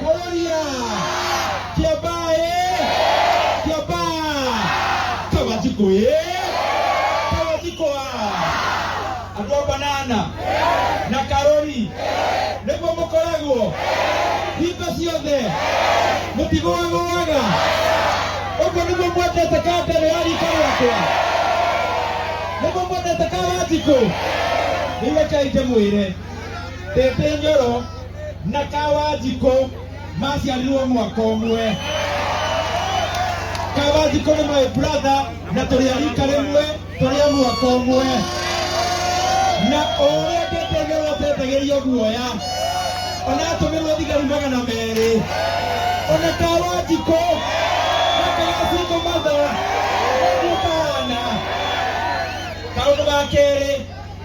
Kororia! Kiambaa ee! Kiambaa! Kawatiko ee! Kawatiko a! Andũ a banana na karori nĩguo mũkoragwo hingo ciothe mũtigũagũaga ũguo nĩguo mwendete kambere ya rika rĩakwa nĩguo mwendete kawanjikũ rĩu rekei ndĩmwĩre ndĩndĩ nyoro na kawanjikũ maciarirwo mwaka ũmwe kawanjikũ nĩ my brother na tũrĩ arika rĩmwe tũrĩ a mwaka ũmwe na ũrĩa ndĩteng'erwo tetagĩria guoya ona atũmĩrwo thigari magana merĩ ona kawanjikũ akawacingo matho ũguo kahana kaũndũ ga kerĩ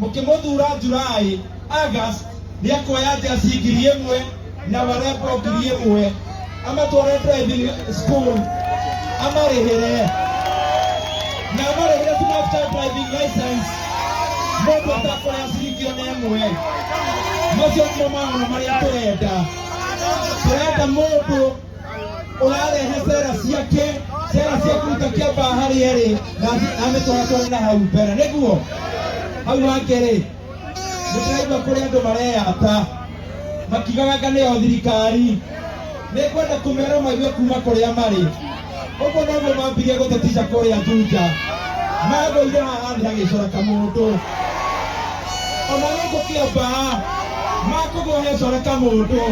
mũkĩmũthura Julaĩ, August, nĩ akuoya njeci ngiri ĩmwe na warembo ngiri ĩmwe amatware driving school amarĩhĩre na amarĩhĩre tu mafuta driving license mũndũ atakuoya ciringi ona ĩmwe macio nĩmo maũndũ marĩa tũrenda tũrenda mũndũ ũrarehe cera ciake cera cia kũruta kĩamba harĩa rĩ na amĩtwara tware na hau mbere nĩguo hau hake rĩ nĩtũraigua kũrĩ andũ mareyata makigaganga nĩyo thirikari nĩkwenda kũmera maigue kuma kũrĩa marĩ ũguo noguo mambirie gũtetica kũrĩa Juja magũire haha thĩ hagĩcora kamũndũ ona gũkũ kĩamba makũgwo hecora kamũndũ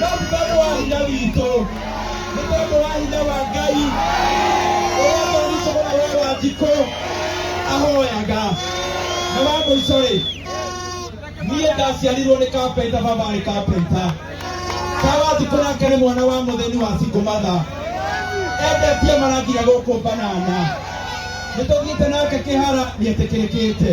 No ti tondũ wa hinya witũ, nĩ tondũ wa hinya wa Ngai ũrĩa twathitũkũra we wa njikũ ahoyaga. Na wa mũico rĩ, niĩ ndaciarirwo nĩ kapenta, baba arĩ kapenta. Kawathikũ nake nĩ mwana wa mũthĩni wa Singũmatha, endetie maranginya gũkũ banana. Nĩ tũthiĩte nake kĩhara nĩ etĩkĩrĩkĩte.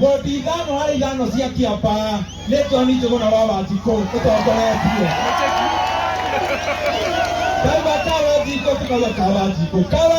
Wodi ithano harĩ ithano cia Kĩamba nĩ John Njũgũna wa Wanjikũ ũtongoretie. Kaima ka Wanjikũ tũkauga ka Wanjikũ. Ka